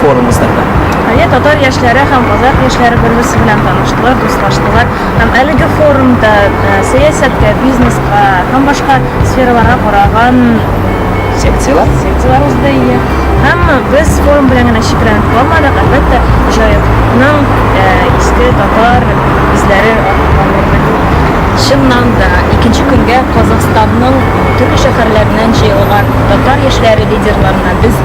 форум уздырды. Әйе, татар яшьләре һәм казах яшьләре бер-берсе белән таныштылар, дуслаштылар һәм әлеге форумда сәясәткә, бизнеска һәм башка сфераларга караган секцияләр секцияләр узды, әйе. Һәм без форум белән генә чикләнеп калмадык, әлбәттә, Җаекның иске татар эзләре артыннан йөрдек. Чыннан да, икенче көнгә Казахстанның төрле шәһәрләреннән җыелган татар яшьләре лидерларына без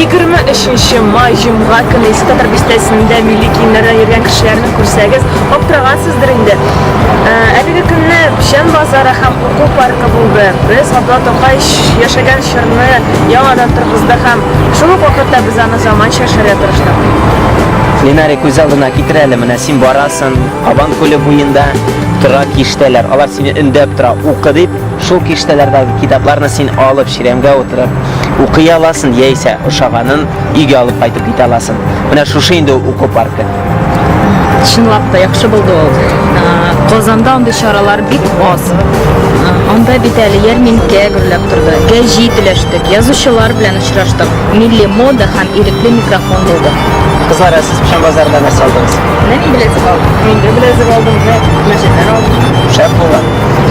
Егерме май җомга көне Искатар бистәсендә милли киемнәрдә йөргән кешеләрне күрсәгез, аптырагансыздыр инде. Ә, әлеге көнне Печән базары һәм уку паркы булды. Без Габдулла Тукай яшәгән чорны яңадан торгызды һәм шул ук вакытта без аны заманча яшәргә тырыштык. Ленарик үз алдына китер әле, менә син барасың, Кабан күле буенда тора киштәләр. Алар сине өндәп тора, укы дип. Шул киштәләрдәге китапларны син алып, чирәмгә утырып, укый аласың, яисә ошаганын өйгә алып кайтып китә аласың. Менә шушы инде уку паркы. Чынлап та яхшы булды ул. Казанда андый чаралар бик аз. Анда бит әле ярминкә гөрләп торды. Гәҗи теләштек, язучылар белән очраштык. Милли мода һәм ирекле микрофон булды. Кызлар, сез Пшан базарында нәрсә алдыгыз? Менә мин беләзек алдым. Мин дә беләзек алдым, менә мәчетләр алдым. Шәп булган.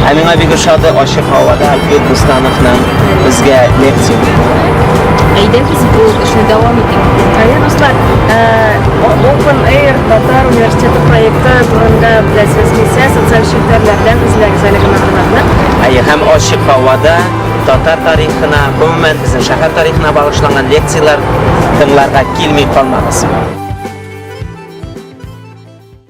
Ә миңа бик ошады ачык һавада Альфред Бустановның безгә лекциясе. Әйдәгез бу эшне дәвам итик. Әйе, дуслар, Open Air Татар университеты проекты турында беләсез килсә, социаль челтәрләрдән эзләгез әлеге мәгълүматны. Әйе, һәм ачык һавада Татар тарихына, гомумән безнең шәһәр тарихына багышланган лекцияләр тыңларга килми калмагыз.